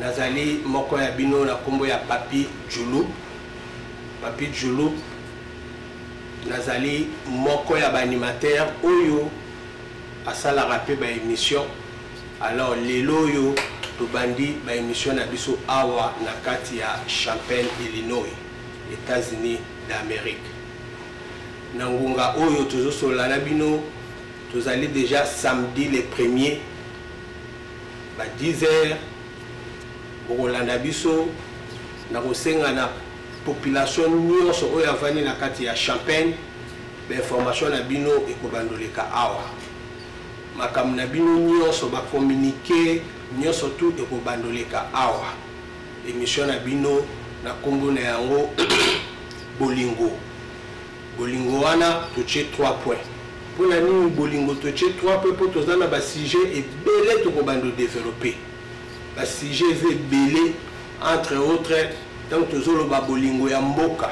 nazali moko ya bino na nkombo ya papi julu papi julu nazali moko ya baanimateur oyo asalaka mpe baémission alors lelo oyo tobandi baémission na biso awa na kati ya champagne illinois états-unis d'amérique na ngonga oyo tozosolola na bino tozali déjà samedi le premier ba 10 heures bokolanda biso na kosenga na population nyonso oyo avandi na kati ya champagne bainformation na bino ekobandoleka awa makambo na bino nyonso bakomunike nyonso tu ekobandoleka awa emission na bino na nkombo na yango bolingo Bolingo wana totie trois points. Mpo na nini bolingo totie trois points? Mpo toza na ba sujets ebele tokobanda ko developper. Ba sujets eza ebele entre autres ntango tozoloba bolingo ya mboka.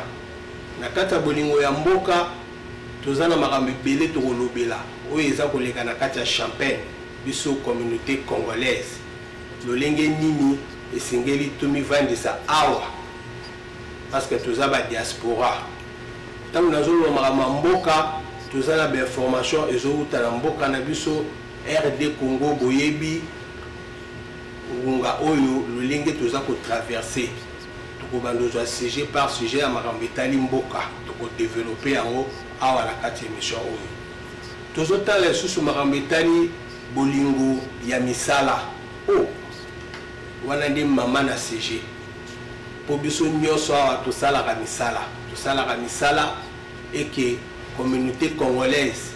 Na kati ya bolingo ya mboka toza na makambo ebele tokolobela oyo eza koleka na kati ya champagne biso communauté congolaise lolenge nini esengeli tomivandisa awa parce que toza ba diaspora ntango nazoloba makambo ya mboka toza na bainformation ezowuta na mboka na biso rd congo boyebi ngonga oyo lolenge toza kotraverse tokobanda ozwa sujet par sujet ya makambo etali mboka tokodevelope yango awa na kati ya émission oyo tozotala lisusu makambo etali bolingo ya misala o oh, wana nde mama na sujet mpo biso nyonso awa tosalaka misala tosalaka misala eke communauté congolaise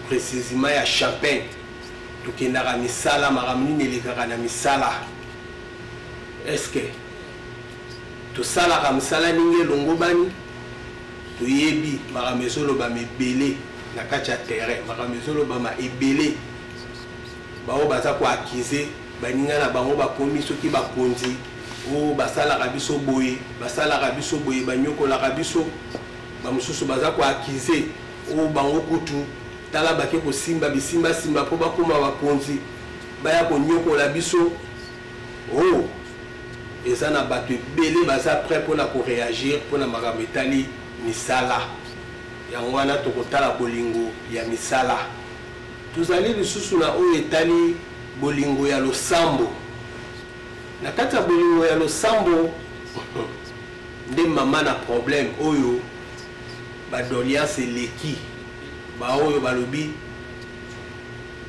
précisement ya champagne tokendaka misala makambo nini elekaka na misala eske tosalaka misala ndenge elongobani toyebi makambo ezolobama ebele na kati ya terrain makambo ezolobama ebele baoyo baza koakize baninga na bango bakomi soki bakonzi o oh, basalaka biso boye basalaka biso boye banyokolaka biso bamosusu baza koakize o oh, bango kutu tala bake kosimba bisimbasimba mpo bakóma bakonzi baya konyokola biso o oh, eza na bato ebele baza prêt mpona koreagir mpona makambo etali misala yango wana tokotala bolingo ya misala Tozali lisusu na oyo etali bolingo ya losambo. Na kati ya bolingo ya losambo nde mama na problème oyo badoliance eleki baoyo balobi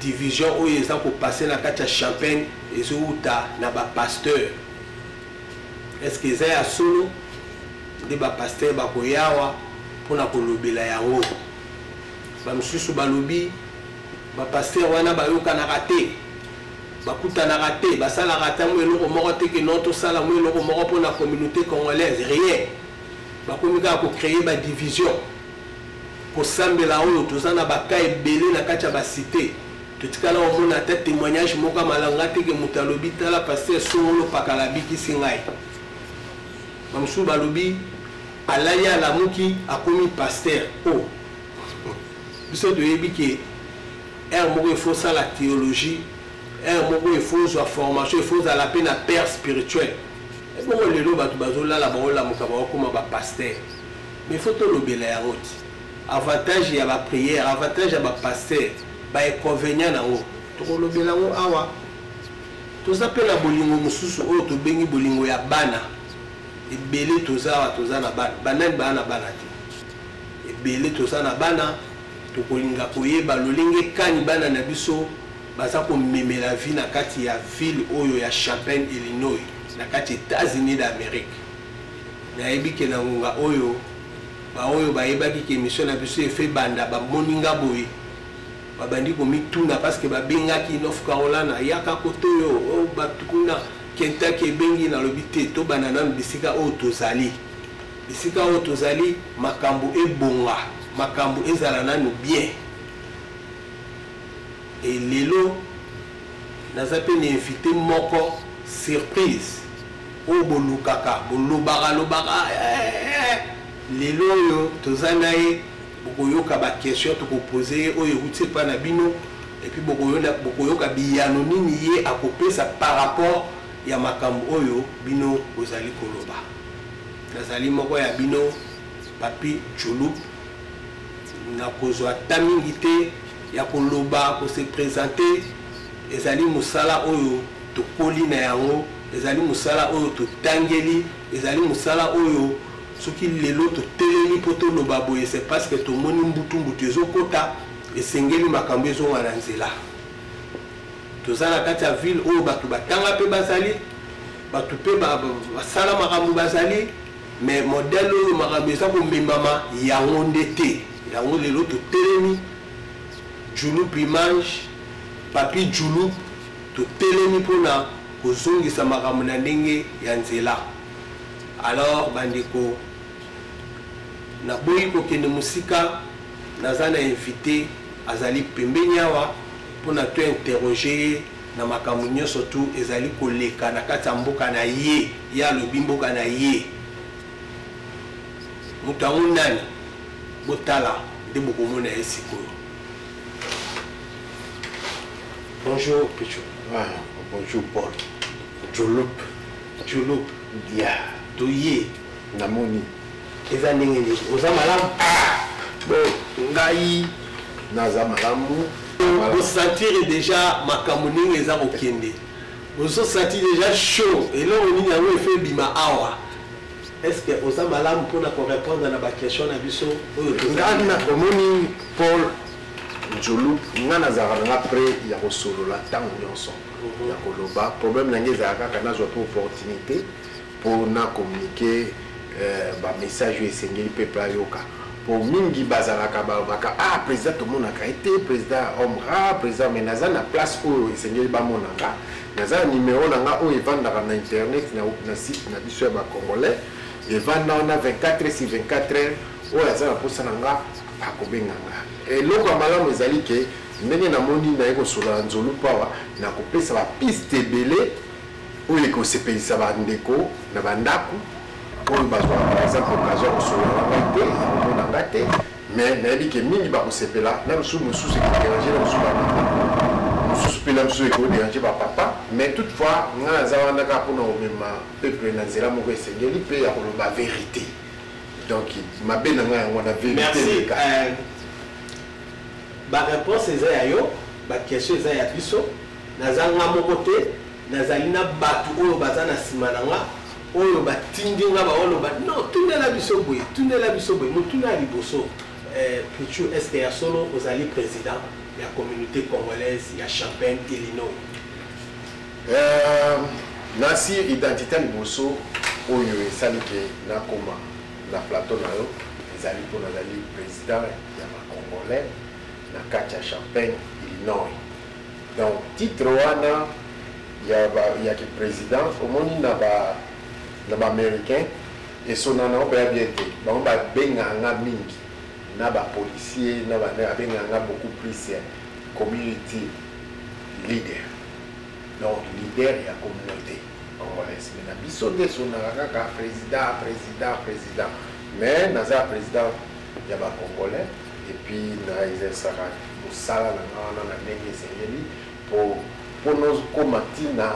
division oyo eza kopase na kati ya champagne ezowuta na bapasteur eske eza ya solo nde bapasteur bakoyawa mpona kolobela yango Bamosusu balobi bapastere wana bayokanaka te, bakutanaka te, basalaka ata mwa eloko moko te ke no tosala mwa eloko moko mpo na communauté congolaise, rien. Bakomi kaka kocreye badivision, kosambela oyo toza na baka ebele na kati ya basite totikala komona ata témoignage moko ya malanga te ke moto alobi tala paster songolo pakala abikisi ngai bamosusu balobi Alali alamuki akomi pasteur oh biso toyebi ke heure moko il faut sala théologie heure moko il faut zwa formation il faut zala pe na père spirituel ebongo lelo bato bazolala baolamuka baokoma bapasteur mais il faut tolobela yango ti avantage ya baprière avantage ya bapasteur bainconvénient na yango tokolobela yango awa toza mpe na bolingo mosusu oyo tobengi bolingo ya bana ebele toza awa toza na bana banani baa na bana te ebele toza na bana tokolinga koyeba lolenge kani bana na biso baza komemela vie na kati ya ville oyo ya champagne illinois na kati états-unis d'amérique nayebi ke na ngonga oyo baoyo bayebaki ke émission na biso efe banda bamoni nga boye babandi komituna parceke babengaki north carolina yaka kotoyo oh, bato kuna Kentucky ebengi nalobi te tobanda nanu bisika oyo tozali bisika oyo tozali makambo ebonga makambo ezala nanu bien e lelo naza mpe na invité moko surprise oyo bolukaka bolobaka lobaka eh, eh, eh. lelo oyo toza na ye bokoyoka ba question tokopose ye oyo euti epai na bino epuis bokoyoka biyano nini ye akopesa par rapport ya makambo oyo bino bozali koloba nazali moko ya bino papi chulup nakozwa ta mingi te ya koloba kose presente ezali mosala oyo tokoli na yango ezali mosala oyo totangeli ezali mosala oyo soki lelo totelemi mpo toloba boye se parce que tomoni mbutu mbutu ezokota esengeli makambo ezonga na nzela toza na kati ya ville oyo bato batanga mpe bazali bato mpe basala makambo bazali mais modèle oyo makambo eza komemama yango nde te yango lelo totelemi julup image papi julup totelemi mpona kozongisa makambo na ndenge ya nzela Alors bandeko naboyi kokende mosika naza na invité azali pembeni awa mpo na to interroge ye na makambo nyonso tu ezali koleka na kati ya mboka na ye ye alobi mboka na ye moto yango nani botala nde bokomona ye sikoyo bonjour picho ah, bonjour paul jolupe Jolo. Ya. Toye. Namoni. Eza ndenge nini? Oza malamu? Ah! Bo ngai naza malamu. Bosantire deja makambo ndenge eza kokende. Bozosati deja show. Eloko nini yango efe ebima awa? Est-ce que oza malamu mpona korepondre na baquestion na biso oyo tozana omoni Paul Jolo, ngai nazalaka na ngai pre ya kosolola ntango nyonso. ya koloba problème na ngai ezala kaka nazwa mpe opportunité mpo na communiquer euh, bamessage oyo esengeli peuple ayoka mpo mingi bazalaka balobaka ah président tomonaka ye te président homme rare président mais naza na place oyo esengeli bamona nga naza na numero na nga oyo evandaka na internet na site na biso ya bacongolais evanda wana 24 heures si 24 heures oyo aza na mposa na nga akobenga nga eloko ya malamu ezali ke Ndenge na moni naye kosolola nzolup awa na kopesa ba piste ebele oyo ekosepelisa ba ndeko na ba ndaku oyo bazwaka par exemple occasion ya kosolola na ngai te ya komona ngai te mais nayebi ke mingi bakosepela na misusu mosusu ekoderange na misusu ba mosusu mpe na misusu ekoderange ba papa mais toutefois ngai naza wana kaka mpona komema peuple na nzela moko esengeli mpe ya koloba verite donc mabe na ngai yango wana verite Merci. leka Euh, Ba reponse eza ya yo, ba question eza ya biso. Naza nga moko te, nazali na batu oyo baza na sima na nga oyo batindi nga baoloba non, tundela biso boye, tundela biso boye. Motuna ya liboso, eh, Puchu, est-ce que ya solo ozali president ya communauté congolaise ya Champagne, Illinois? Euh, nasi identité liboso oyo esali ke nakoma na plateau na yo ezali mpo nazali président ya bacongolais na kati ya champagne illinois donc titre wana ya, ba, ya kiprésident omoni na ba na baaméricain esonana oyo baya bien te bango babengaka nga mingi na bapolicier na bana babengaka nga beaucoup plus ya community leader donc leader ya communauté congolais mais na biso nde esonaka kaka président président président mais naza président ya ba congolais et puis na exercaka mosala na nga wana na ndenge esengeli po po nokoma ntina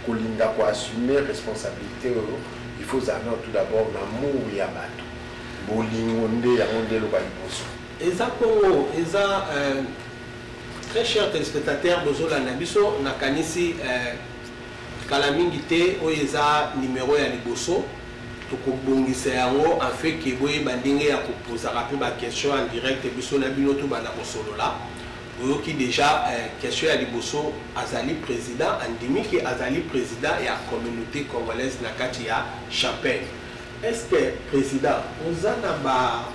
kolinda euh, koassume responsabilité oyo il faut ozala nao tout d'abord na mour ya bato bolingo nde yango nde eloba liboso eza kongo eza euh, Très cher téléspectateur bozolanda biso nakanisi eh, kala mingi te oyo eza numero ya liboso tokobongisa yango afin ke boyeba ndenge ya kopozaka mpe baquestion en direct biso na bino tobanda kosolola oyoki deja eh, question ya liboso azali président andimi ke azali président ya communauté congolaise na kati ya champagne est ce que président oza na ba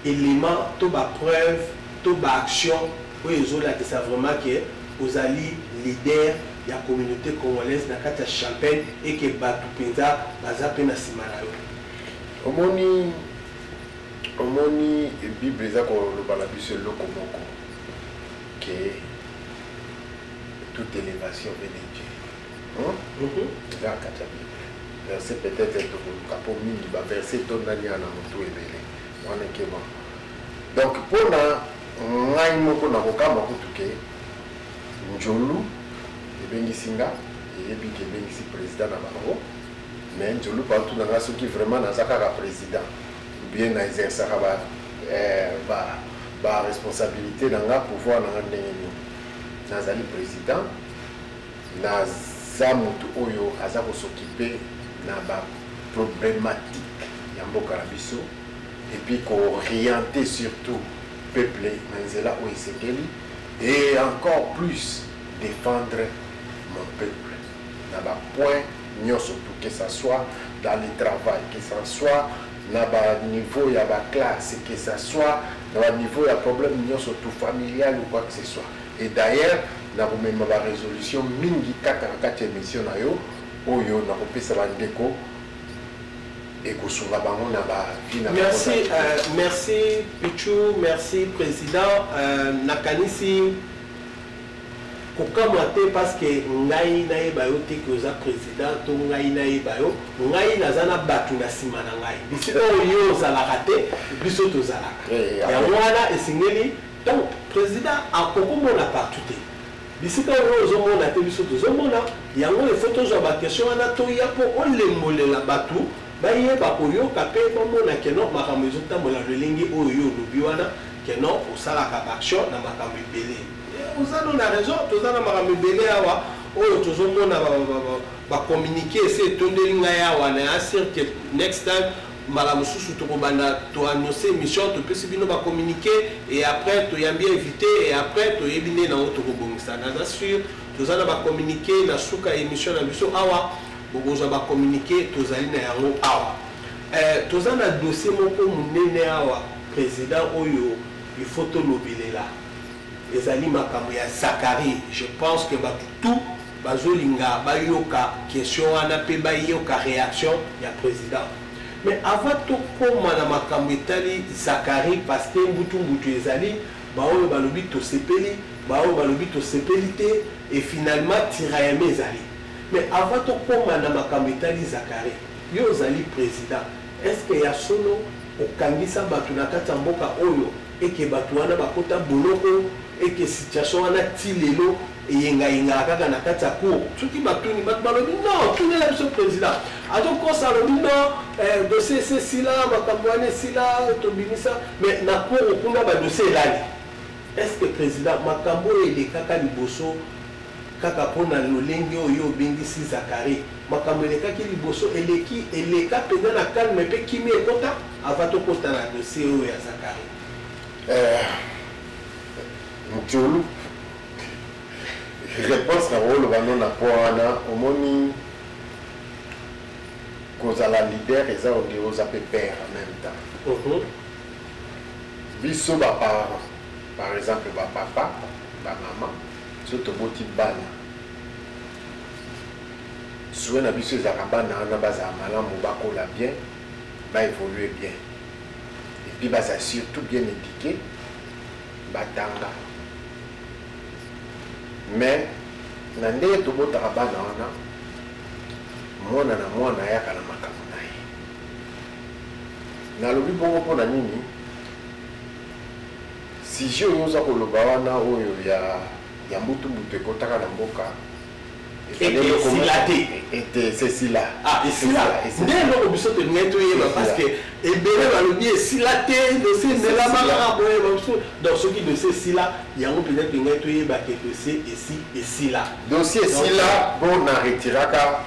element to ba preuve to ba action oyo ezolakisa vraiment ke ozali leader ya communaute congolaise na kati ya champagne et ke batu penza baza pe na sima na yo omoni omoni bible eza koloba na biso eloko moko ke toute elevation vene verset peut-être tokoluka mpo mingi baverse etondani ya na motu ebele wana ekema donc mpo na ngai moko nakokamba kutu ke njolu ebengisi nga eyebi ke ebengisi président na bango mais njolu partout na nga soki vraiment naza kaka président bien na exercaka ba, eh, ba, ba responsabilité na nga pouvoir na nga ndenge nini nazali président Na za mutu oyo aza ko s'occuper na ba problematiques ya mboka na biso et puis ko orienter surtout peuple na nzela oyo esengeli et encore plus defendre mon peuple na ba points nionso tout que ça soit dans le travail que ça soit na ba niveau ya ba classe que ça soit na ba niveau ya problème nionso tout familial ou quoi que ce soit Et d'ailleurs, nakomema ba resolutions mingi kaka na kati ya emission na yo oyo nakopesa ba ndeko ekosunga bango na ba vie na Merci, euh, merci Pichou, merci président. Euh, nakanisi kokamwa te parce que ngai nayeba yo te ke oza président to ngai nayeba yo ngai naza na bato na nsima na ngai bisika oyo yo ozalaka te biso tozalaka eh, eh, yango wana esengeli Donc president akoko mona partout te bisika oyo ozo mona te biso tozo mona yango il faut tozwa ba question wana toya po olembolela batu bayeba koyoka pe bamona ke non makambo ezo tambola lolenge oyo yo olobi wana ke non osalaka ba action na makambo ebele oza no na raison toza na makambo ebele awa oyo tozo mona ba communique ese etondeli ngai awa na asir ke next time mbala mosusu tokobanda toannonce émission topesi bino bacommuniqué et après toyambi invité et après toyebi nde nango tokobongisa naza sur toza na bacommuniqué na suka émission na biso awa bokozwa bacommuniqué tozali na yango awa eh, toza na dossier moko monene awa président oyo il faut tolobelela ezali makambo ya Zacharie je pense que batu tout bazolinga bayoka question wana mpe bayoka réaction ya président mais avant tokoma na makambo etali Zacharie parce que mbutu mbutu ezali baoyo balobi tosepeli baoyo balobi tosepeli te et finalement tiraillement ezali mais avant tokoma na makambo etali Zacharie yo ozali président est ce que ya solo okangisa bato na kati ya mboka oyo et que batu wana bakota boloko et que situation wana ti lelo eyengayengaka kaka na kati ya cour soki batuni bato balobi non tunela biso président azokosa alobi non eh, dossier esi esila makambo wana esila tobimisa mais na cour kuna badossier elali est ce que président makambo oyo elekaka liboso kaka mpo na lolenge oyo obengisi zakari Makambo elekaki liboso eleki eleka mpenza na calme mpe kimia ekota avant tokota na dossier oyo ya Zacharie. Eh, Mtiolu, réponse na oloba no na point wana omoni kozala leader eza onde oza mpe père en même temps uh mhm. -huh. biso baparent par exemple bapapa bamama so toboti bana souhait na biso ezalaka bana wana bazala malamu bakola bien ba évoluer bien et puis bazala surtout bien éduqué batanga mais na ndenge tobotaka bana wana mwana na mwana ayaka na makambo na ye nalobi bongo mpo na nini sujet oyo oza koloba wana oyo ya ya mbutu mbutu ekotaka na mboka esila te ete esila ah, esila nde eloko biso tolingai toyeba parce que ebele balobi esila te dosie emelama kaka boye babiso donc soki dosie esila yango mpenza tolingai toyeba ke dosie esi esila dosie esila mpo na retiraka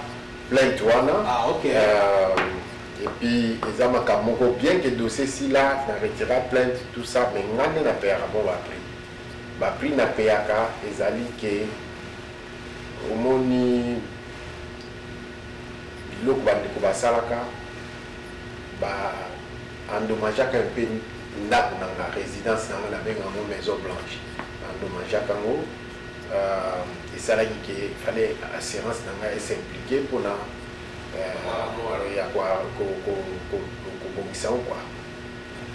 plainte wana ah, euh, epuis eza makambo moko bien ke dosie esila na retira plainte tout ça mais ngai nde na peyaka mpo bapri Ba prix na payaka ezali que omoni biloko ba ndeko basalaka ba endommageaka un peu ndako na nga residence na nga na benga yango maison blanche ba endommageaka yango euh, esalaki ke fallait assurance na nga esimplike mpona euh, ya kobongisa yango kua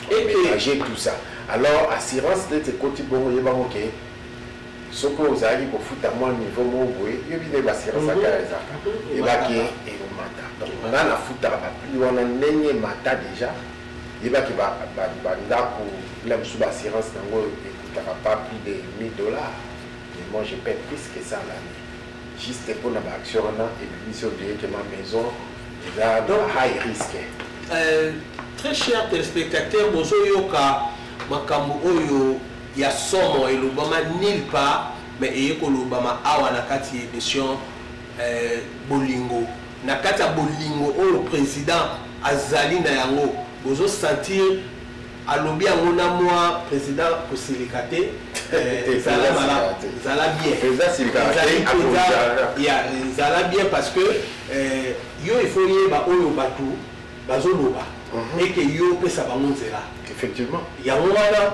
ménager tout ça alors assurance neti ekoti bongo yebango ke soki ozalaki kofuta mwa niveau moko boye yobi nde basirance mhm. akala ezalaka mhm. ebaki ekomata donc nga nafutaka bapli wana ndenge emata déjà yebaki bandako na biso baassurance yango ekutaka pas plus de 1000 dollars mais moi je paie plus que ça l'année juste mpo na baaction wana ebimisi yo directement maison eza na high risque euh, très cher téléspectateur bozoyoka makambo oyo ya somo elobama nil part mais eye kolobama awa na kati ya émission euh, bolingo na kati ya bolingo oyo président azali na yango bozosentir alobi yango na mwa président kosilika te eh, zala malamu zala bien zala bien parce que eh, yo il faut yeba oyo bato bazoloba mhm. eke yo opesa bango nzela effectivement yango wana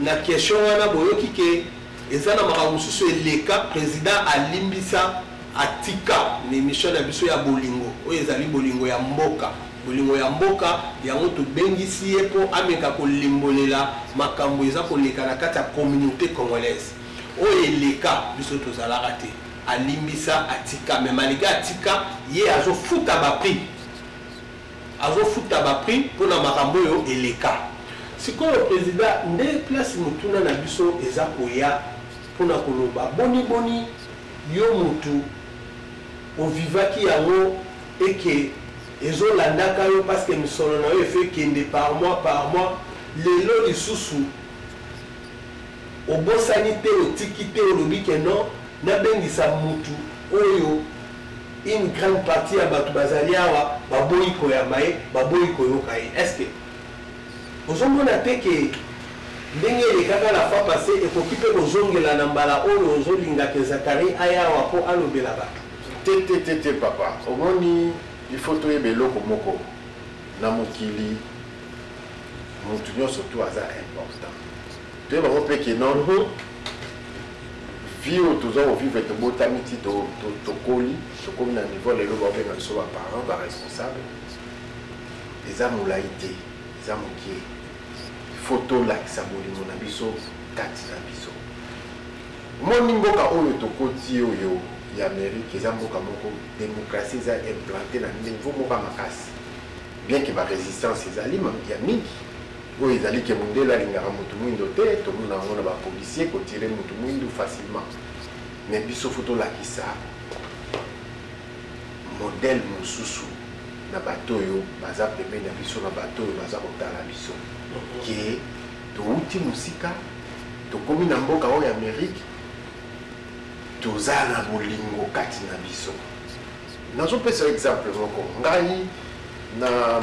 na question wana boyoki ke eza na makambo mosusu eleka président alimbisa atika na émission na biso ya bolingo oyo ezali bolingo ya mboka Bolingo ya mboka, yango tobengisi ye mpo ameka kolimbolela makambo eza koleka na kati ya communaute congolaise. Oyo eleka, biso tozalaka te. Alimbisa, atika. Mais malgre atika, ye azo futa ba prix. Azo futa ba prix mpo na makambo oyo eleka. Sikoyo President, nde place motuna na biso eza koya mpo na koloba boni boni yo mutu, O vivaki yango et que ezo landaka yo parce que misolo na yo efo ekende par mois par mois lelo lisusu obosani te otiki te olobi que non nabengisa mutu oyo une grande partie ya bato bazali awa baboyi koyamba ye baboyi koyoka ye est ce que Ozo mona te que ndenge elekaka la fois passe ekoki pe ko zongela na mbala oyo ozo linga que Zacharie aya awa po alobela batu? Te te te te papa omoni il faut toyeba eloko moko na mokili mutu nionso tout aza important toyeba ngo pe que non vie oyo toza kovivre tobotami ti tokoli tokomi na niveau lelo baobenga biso ba parents ba responsable eza molai te eza mokie fo tolakisa bolingo na biso kati na biso omoni mboka oyo tokoti oyo ya amerike eza mboka moko demokratie eza implante na niveau moko ya makasi bien ke barésistance ezali ya mingi oyo ezali ke mondele alingaka motu mwindo te tomona yango na bapolisier kotire motu mwindu facilement mais biso fo tolakisa modèle mususu na bato oyo baza pembeni na biso na bato oyo baza kotala biso ke towuti mosika tokomi na mboka oyo amerike toza na bolingo kati na biso nazopesa yo exemple moko ngai na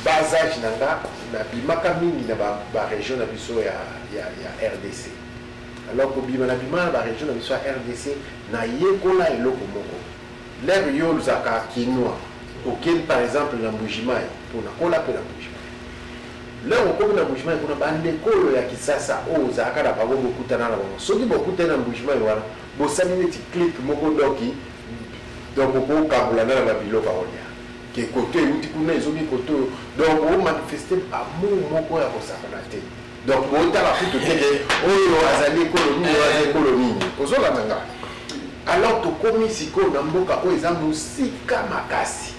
bas age na nga nabimaka mingi na baregion na biso ya, ya, ya rdc Alors kobima na bima na ba region na biso ya RDC na yekola eloko moko. L'air yo olzaka kinois okeli par exemple na Mbujimayi mpo na kola mpe na Mbujimayi. L'air okomi na Mbujimayi kuna bandeko oyo ya Kisasa oyo ozalaka na bango bokutana na bango soki bokutani na Mbujimayi wana bosali neti clique moko doki donc okokabola na na babiloko aolia ke koto euti kuna ezomi koto donc omanifeste amour moko ya kosakana te donc botala kutu te ke oyo azali ekolo nini oyo azali ekolo nini ozolanda nga alors tokomi sikoyo na mboka oyo eza mosika makasi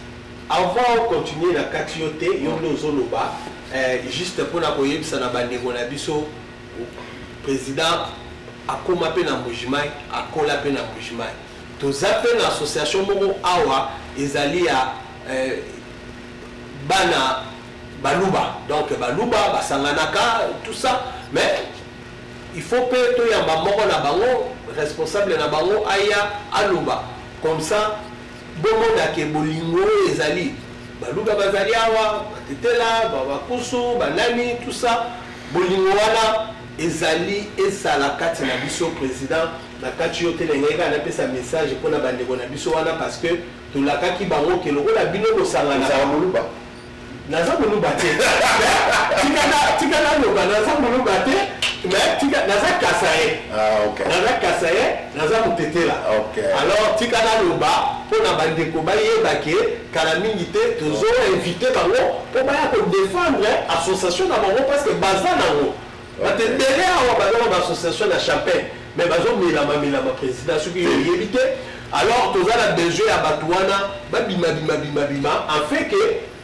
avant ocontinue na kati yo te yo nde ozoloba eh, juste mpona koyebisa na bandeko na biso président akoma mpe na mbujimai akola mpe na mbujimai toza mpe na association moko awa ezali ya eh, bana baluba donc baluba basanganaka tout ça mais il faut mpe toyamba moko na bango responsable na bango aya aloba comme ça bomona ke bolingo oyo ezali baluba bazali awa batetela bakusu banani tout ça bolingo wana ezali esala kati na biso président na kati yo te na ngai kaka napesa message mpo na bandeko na biso wana parce que tolakaki bango ke lokola bino bosanganaka naza moluba te tika naloba naza moluba te naza kasaye ah, naza kasaye naza motetela alors tika naloba mpo na bandeko bayeba ke kala mingi te tozoinvite bango mpo baya kodefendre association na bango parce que baza nango Bato ebele awa baza na baassociation na chapin mais bazomelama melama président soki yo oyebi te alors toza na besoin ya bato wana babimabimabimabima afin ke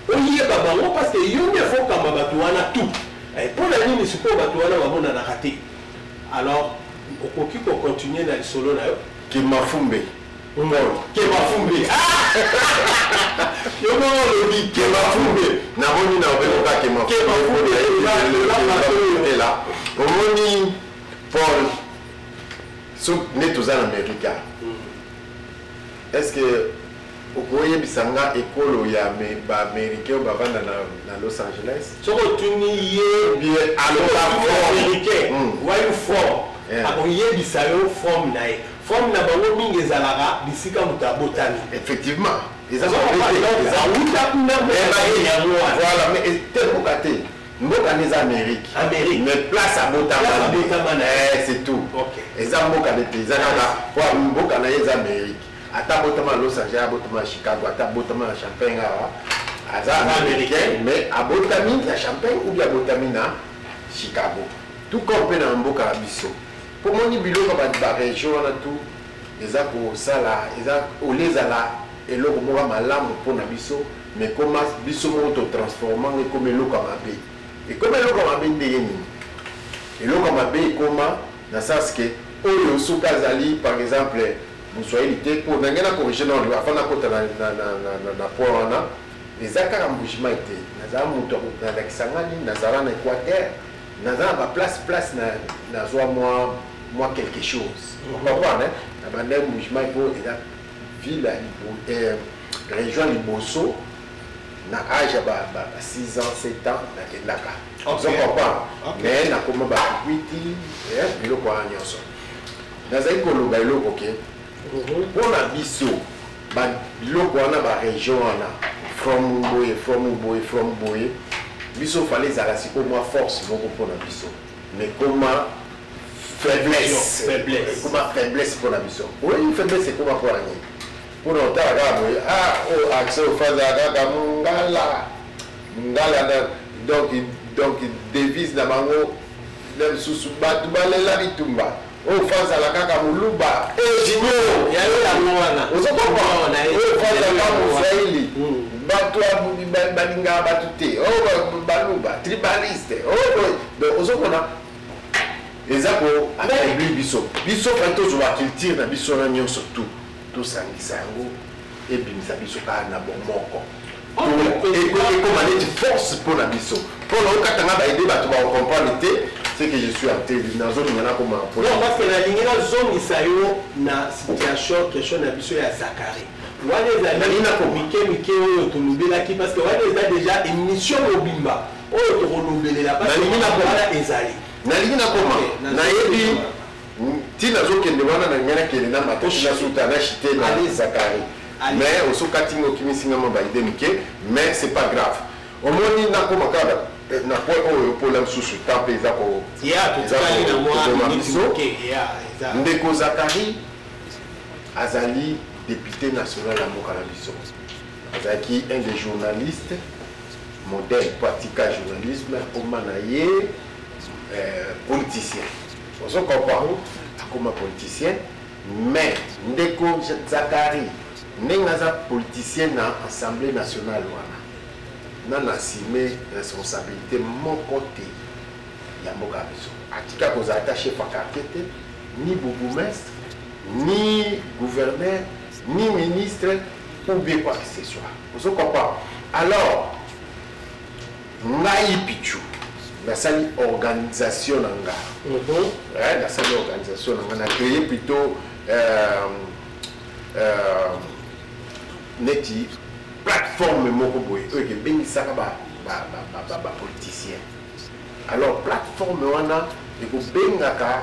oyeba bango parce que yo nde fokamba bato wana tout eh, mpo na nini sikoyo bato wana bamonanaka te alors okoki kocontinue na lisolo na yo kimafumbe Ngol, keba fumbe. Yo moko olobi keba fumbe. Namoni na obeko ka kema fumbe. Keba fumbe eza la. Omoni Paul so nde toza na Amerika. Est-ce que okoyebisa nga ekolo ya baaméricain oyo bavanda na los angeles soki otuni ye alobaaméricain wayo form akoyebisa yo forme na ye Forme na bango mingi ezalaka bisika moto abotami. Effectivement. Eza ba wete. Eza wuta kuna mais ba ye yango wana. Voilà mais te boka te. Mboka nde eza Amérique. Amérique. Mais place abotama. Place abotama na. Eh c'est tout. OK. Eza mboka nde te. Eza kaka po mboka na ye eza Amérique. Ata botama Los Angeles, botama Chicago, ata botama na Champagne awa. Aza américain mais abotami na Champagne ou bien abotami na Chicago. Tout comme pe na mboka na biso. Po moni biloko ya batu ba region wana tout eza kosala eza olie ezala eloko moko ya malamu po na biso mais ekoma biso moko to transforma yango ekoma eloko ya mabe ekoma eloko ya mabe ndenge nini eloko ya mabe ekoma na sens que oyo soki azali par exemple moswahili te po na ngai na corrige na oloba afanda kota na, na, na, na, na, na point wana eza kaka mbujimai te nazala moto ya kolakisa ngai nini nazala na equateur naza na ba place place na nazwa mwa mwa quelque chose mhm. comprendre hein? na banda mouvement mpo eza ville ya euh, région liboso na âge ya ba 6 ans 7 ans nakendaka ozo comprendre mais nakoma bakuiti eh, biloko wana nyonso nazali koloba eloko ke mhm. mpo na biso ba biloko wana ba region wana from boye from boye from boye biso fale ezala sikoyo mwa force moko mpo na biso mais koma faiblesse ekoma faiblesse mpo na biso oyebi faiblesse ekoma mpo na nini mpo na otala kaka boye ah o oh, accès ofaza kaka mongala mongala na donc donc devise na bango na lisusu bato balela bitumba Oyo fans ala kaka muluba. Eh junior, ya yo ya mwana. Ozo kompa wana. Oyo fans ala mosraeli. Bato balingaka bato te. Oyo baluba, tribaliste. Oyo donc ozo kona eza ko affaiblir biso. Biso fa tozwa culture na biso na nyonso tout. Tosangisa yango ebimisa biso kaka na bomoko. ekoma neti force mpo na biso mpo na okata nga baide bato baocomprendre te c'est que je suis ateli nazolinga nakoma mpo non parce que nalingi nazongisa yo na situation question na biso ya zakari wana ezali na komike mike oyo tolobelaki parce que wana eza déjà émission mobimba oyo tokolobelela parce que ezali nalingi nakoma nayebi ti nazo kende wana na ngana kende na mata na suta na chite na ali zakari mais oso kati ngo kimi singa mo ba idée mike mais c'est pas grave omoni na koma kala eh, na point oyo pola msusu temps pe eza ko ya to tsali na moi na biso ya eza ndeko zakari azali député national ya mboka na biso azalaki un des journalistes modèle pratika journalisme akoma na ye euh, politicien Ozo comprendre? Akoma politicien mais ndeko Zacharie ndenge aza politicien na assemblee nationale wana nanu assume responsabilite moko te ya mboka ya biso. Atika kozala ata chef ya quartier te, ni bourgoumestre, ni gouverneur, ni ministre ou bien quoi que ce soit. Ozo comprendre? Alors Ngai Pitshou nasali organisation na nga eh, nasali organisation na nga na créer plutôt euh, euh, neti plateforme moko boye oyo ekebengisaka bapoliticien alors plateforme wana ekobengaka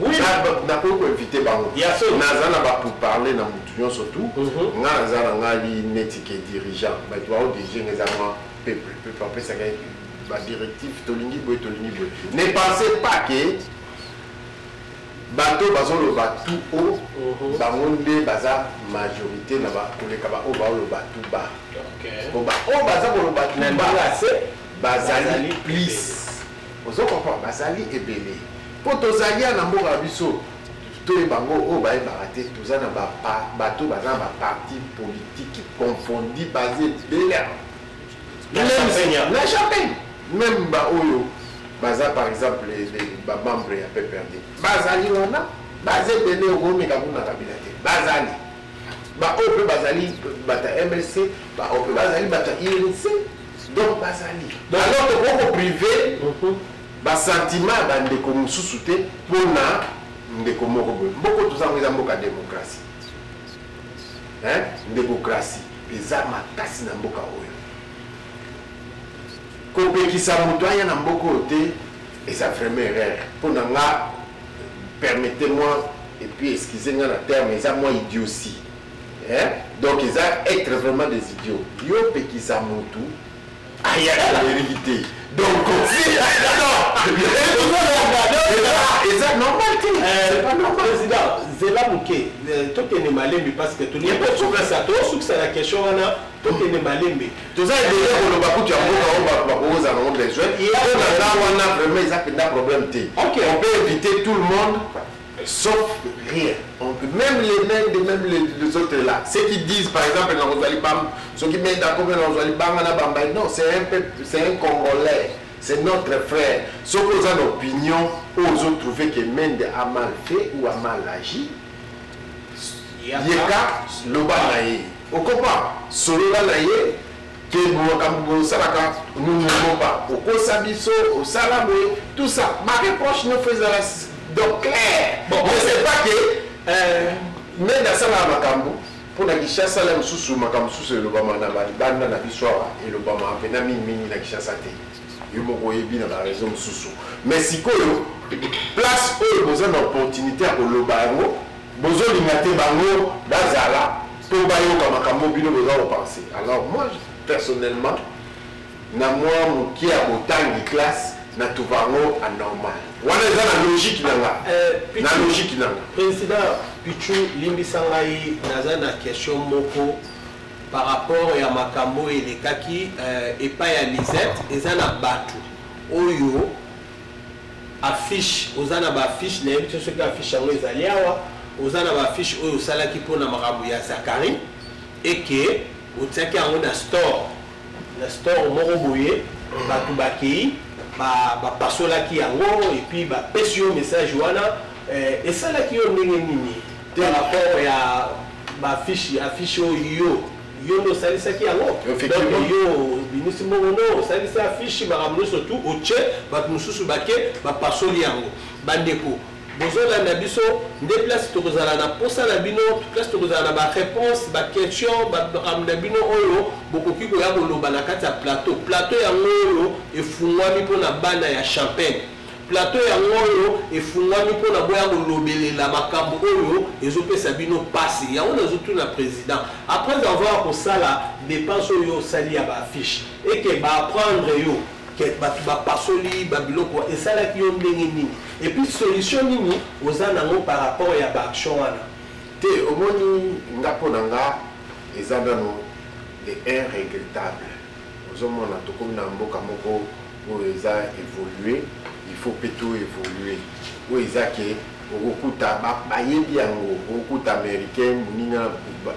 Oui. nakoki koinvite bango naza na bapourparle na motu nyonso tu mhm. nga naza na ngai neti ke dirigeant bato baodirige nga eza mwa peuple peuple apesaka badirective tolingi boye tolingi boye ne pensez pas ke bato bazoloba tout haut mhm. bango nde baza majorité na koleka baoyo baoloba tout bas po baoyo baza koloba tout bas bazali plus Ozo comprendre bazali ebele po tozali ya na mboka na biso toyeba ngo oyo bayebaka te toza na ba bato baza na ba parti politique confondi baza ebele na champagne meme baoyo baza par exemple bamembre ya pprd bazali wana baza ebele okomeka kuna kabila te bazali baoyo mpe bazali bato ya mlc baoyo mpe bazali bato ya irc donc bazali alors tokoki koprive mhm. basentiment ya bandeko mosusu te mpo na ndeko moko boye mboko toza yango eza mboka demokrasi demokrasi eza makasi na mboka oyo kopekisa moto aya na mboka oyo te eza vraiment erreur mpo na nga permettez moi et puis excusez nga na terme eza mwa idiosi hein? donc eza être vraiment des idiots yo pekisa mutu ayaka na eliki te donc eza normal te président zela moke tokende malembi parce que tolipesukasa tosukisa na question wana tokende malembe toza ebele koloba kutu ya mboka oyo bato bakokoza nango besoin mpo na nga wana vraiment eza mpenza problème te on peut éviter tout le monde sauf rien même les mêmes de même les, les autres là ceux qui disent par exemple nakozwa libamba soki menda akomi nakozwa libanga na bambai non c'est un peuple c'est un congolais c'est notre frère soki oza na opinion oyo ozotrouve que mende a mal fait ou a mal agi yeka loba na ye okopa solola na ye ke makambo boye osalaka nungokopa okosa biso osala boye tout ça ma reproche no fo ezala donc clair je sais pas ke euh, mende asalaka makambo mpo na kinshasa la mosusu makambo mosusu elobama na balibanda na biso awa elobama mpena mingimingi na kinshasa te yo moko oyebi na ba raison mosusu mais sikoyo place oyo boza na opportunité ya koloba yango bozolinga te bango bazala mpo bayoka makambo bino boza kopense alors moi personnellement na mwa moke ya botangi classe na tuva yango anormal wana eza na logike na nga eh, na logike na nga président pichu limbisa ngai naza na question moko Par rapport ya makambo oyo elekaki euh, epai ya Lisette, eza na bato oyo affiche oza na baaffiche nayebi te soki affiche yango ezali awa oza na baaffiche oyo osalaki mpo na makambo ya zakari eke otiaki yango na store na store moko boye bato bakei bapasolaki ba yango epuis bapesi yo message wana eh, esalaki yo ndenge nini Par rapport ya ba fiche affiche oyo yo nde osalisaki yango donc yo obimisi mbongo no osalisi affiche makambo nyonso tu otie bato mosusu bake bapasoli yango bandeko bozolanda biso nde place tokozala na mposa na bino place tokozala na baréponse baquestion makambo na bino oyo bokoki koya koloba na kati ya plateau plateau yango oyo efungwami mpo na bana ya champagne Plateau yango oyo efungwami mpo na boya kolobelela makambo oyo ezopesa bino pasi. Yango nazo tuna president après avoir kosala depense oyo osali ya ba affiche et que ba apprendre yo que bato bapasoli ba biloko esalaki yo ndenge nini et puis solution nini oza nango par rapport ya ba action wana? Te omoni nga mpo na nga eza nano de un regrettable. Ozo mona tokomi na mboka moko oyo eza evoluer, il faut pe to evoluer. Oyo eza ke okokuta bayebi yango, okokuta americain moninga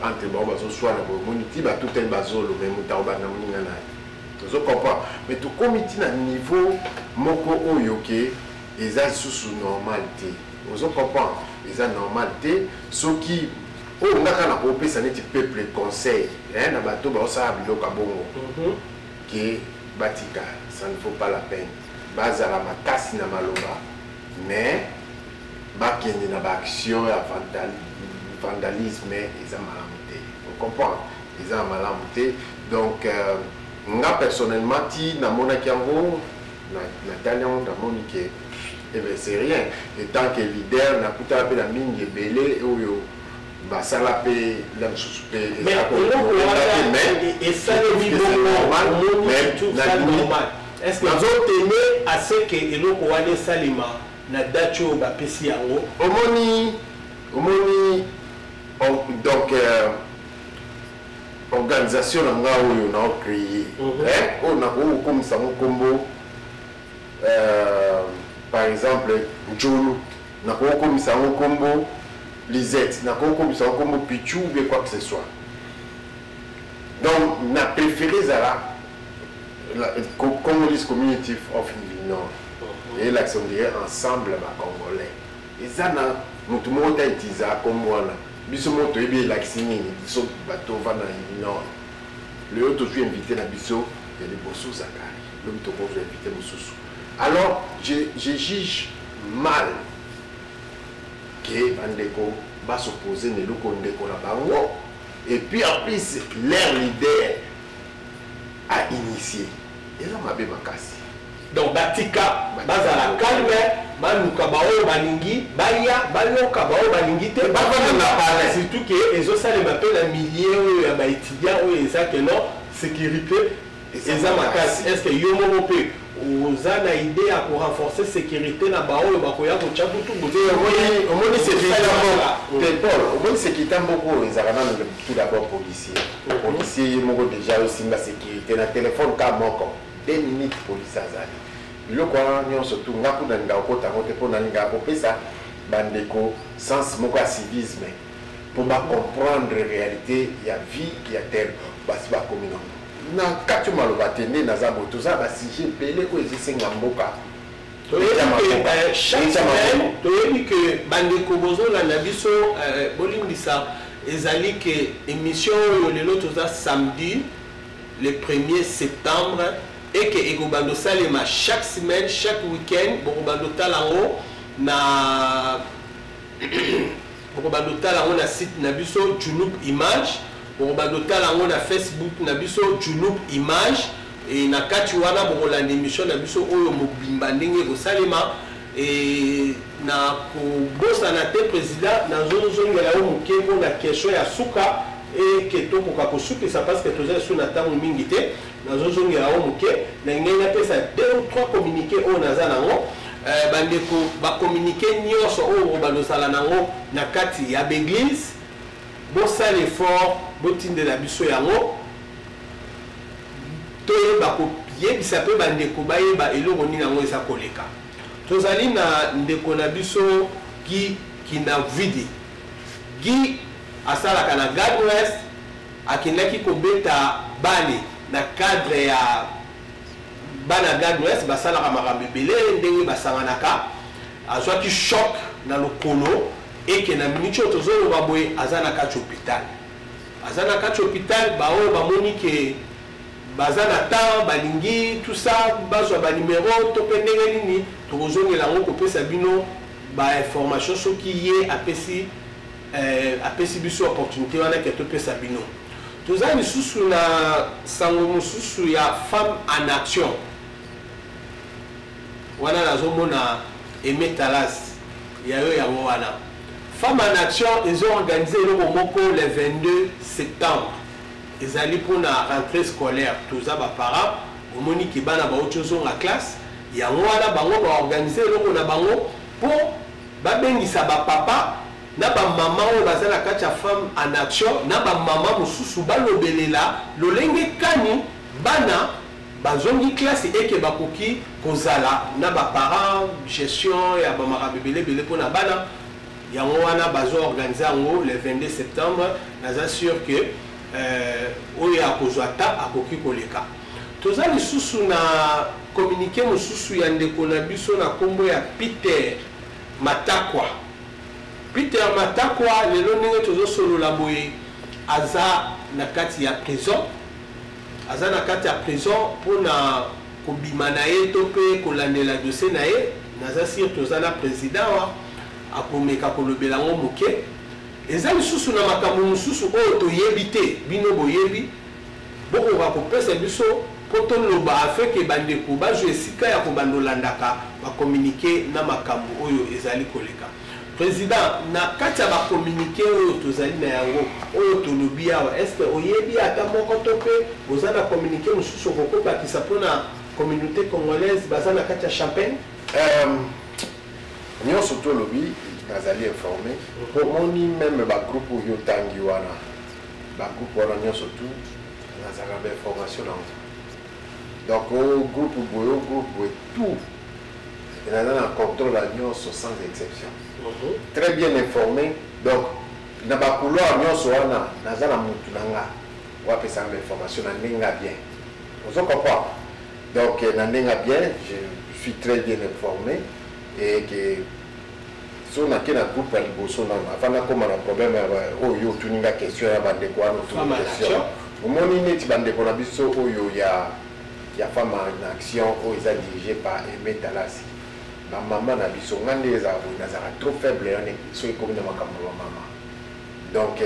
entre bango bazo swana boye moni ti ba tutani ba zolo mais moto akobanda moninga na ye. Ozo comprendre? Mais tokomi ti na niveau moko oyo ke eza lisusu normal te. Ozo comprendre? Eza normal te soki Oyo nga kaka nako pesa neti peuple conseil eh na bato bao sala biloko ya bongo ke ba tika ça ne faut pas la peine ba zala makasi na maloba mais ba kende na ba action ya vandalisme eza malamu te on comprend eza malamu te donc euh, nga personnellement ti na monaki yango Na, na tali yango namoni ke eh bien c'est rien et tant que leader nakutaka mpe na mingi ebele oyo basala mpe la mosusu mpe nazoteme aseke eloko wana esalema na date oyo bapesi yango omoni omoni donc euh, organisation na nga oyo na ocreye mhm. eh, oyo nakoki kokomisa ngo nkombo euh, par exemple njolu nakoki kokomisa yango nkombo lisette nakoki kokomisa yango nkombo pichu ou bien quoi que ce soit donc na préféré ezala congolese community of nord eyelakisa mhm. ondire ensemble bacongolais eza na motu moko ta etiza nkombo wana biso moko toyebi elakisi nini biso bato ovanda na union lelo tozwi invité na biso ya liboso zakari lobi tokozwa invité mosusu alors je, je juge mal ke bandeko basopose na eloko ndeko na bango et puis en plus leur leader a initié eza mabe makasi Donc batika bazala calme baluka baoyo balingi baya bayoka baoyo balingi te bavanda na palais surtout ke ezosalema mpe na milieu oyo ya baétudiant oyo eza ke non sécurité eza makasi est ce que yo moko mpe oza na idée ya korenforcer sécurité na baoyo bakoya kotya butuomoni sekirite mboko oyo ezalaka nano tout d'abord policier policier ye moko déjà osimba sécurité na telefone ka moko Deux minutes police azali biloko wana nyonso tu nga kuna linga kokota yango te mpo nalingaka kopesa bandeko sens moko ya civisme mpo bacomprendre réalité ya vie ya tel basi bakomi nango na kati maloba te nde naza boye toza basije ebele oyo ezisenga mboka toyebi ke bandeko bozolanda biso euh, bolimbisa ezali ke émission oyo lelo toza samedi le premier septembre et que ekobanda osalema chaque semaine chaque week-end bokobanda otala yango na bokobanda otala yango na site na biso junup image bokobanda otala yango na facebook na biso junup image e na kati wana bokolanda émission na biso oyo mobimba ndenge ekosalema e na kobosana te président nazozongela yo moke mpo na question ya suka et que tokoka kosukisa parce que toza lisusu na tango mingi te nazozongela yango moke nalingai napesa deux ou trois communiqué oyo naza nango euh, bandeko bacommuniqué nyonso oyo balozala nango na kati ya baeglise bosala effort botindela biso yango toyeba koyebisa mpe bandeko bayeba eloko nini yango eza koleka tozali na ndeko na biso gi kinavidi Guy asalaka na Gag West, akendaki kobeta balle na cadre ya bana Gag West, basalaka makambo ebele ndenge basanganaka, azwaki choc na lokolo eke na minute oyo tozoloba boye aza na kati hôpital. Aza na kati hôpital, baoyo bamoni ke baza na temps balingi tout ça bazwa ba numero to mpe ndenge nini tokozongela yango kopesa bino ba information soki ye apesi eh, apesi biso opportunité wana ke topesa bino toza lisusu na sango mosusu ya femme en action wana nazomona emetalas ya yo yango wana femme en action ezo organise eloko moko le 22 septembre ezali mpona rentrée scolaire toza baparent omoni ke bana bauti ozonga classe Yango wana bango ba organiser eloko na bango po ba bengisa ba papa na ba maman oyo baza na kati ya femme en action na ba maman mosusu balobelela lolenge kani bana bazongi classe eke bakoki kozala na ba parents gestion ya ba makambo ebele ebele po na bana yango wana bazo organiser yango le 22 septembre naza sur que euh, oyo akozwa ta akoki koleka Toza lisusu na communique mosusu ya ndeko na biso na kombo ya Peter Matakwa. Peter Matakwa lelo ndenge tozo solola boye aza na kati ya prison. Aza na kati ya prison pona kobima na ye to pe kolandela dossier na ye. Naza sur toza na president wa akomeka kolobela ngo moke. Eza lisusu na makambo mosusu oyo toyebi te bino boyebi. Bokoka kopesa biso po toloba afin que bandeko bazwa esika ya kobanda olandaka ba communique na makambo oyo ezali koleka? President, na kati ya ba communique oyo tozali na yango, oyo tolobi awa, est ce que oyebi ata moko to pe oza na communique mosusu okoko bakisa pona communaute congolaise baza na kati ya Champagne? Euh, nionso tolobi nazali informe, omoni meme ba groupe oyo otangi wana Ba groupe wana nionso tout nazalaka ba information na ngo. Donc o oh, groupe boye o oh, groupe boye tout naza na contrôle ya nionso sans exception. Mm -hmm. Très bien informé donc na ba couloir nionso wana naza na mutu na nga wapesaka ba information na ndenge ya bien. Ozo comprendre? Donc na ndenge ya bien je suis très bien informé et que so nake na groupe ya liboso nano avant nakoma na problème ya oyo yo otuni nga question ya bandeko wana otuni question omoni neti bandeko na biso oyo ya ya femme en action oyo eza dirigé par aimé dalasi bamama na biso nga nde ezala boye nazalaka trop faible yane soki ekomi na makambo ya bamama donc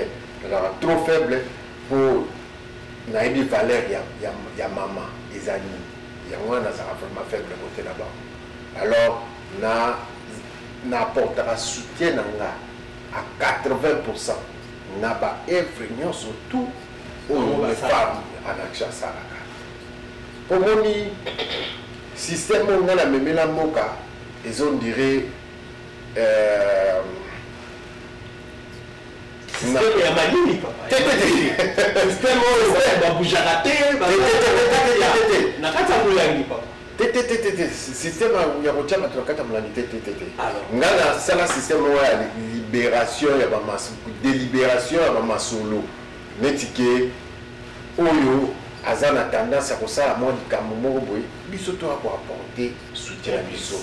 nazalaka trop faible mpo nayebi valeur ya, ya, ya mama eza nini yango wana nazalaka vraiment faible kote na bango alors Na na apportaka soutien na nga à 80% na ba œuvres nyonso tout oyo le femme anakisha asalaka. Omoni système oyo nga na memela mboka ezo ndire euh, système ya malili papa te te te système oyo babujaka te na kati ya molangi papa te te te te te système ya kotia bato na kati ya molandi te te te te ngai nasala système moko ya libération ya délibération ya bamasolo neti ke oyo aza na tendance ya kosala mwa likambo moko boye biso toya koapporte soutien ya biso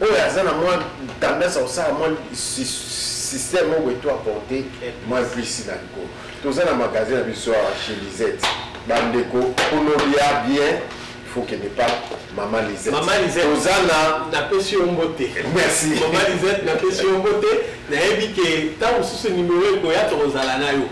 oyo aza na mwa tendance ya kosala mwa système moko boye to apporte mwa visi na likolo toza na magasin na biso awa chez lisette bandeko onolia bien faut que n'est pas maman Lisette. Maman Lisette. Ozana. Na pesi ombote. Merci. Maman Lisette na pesi ombote. Na yebi que tant sous ce numéro ko ya to ozala na yo.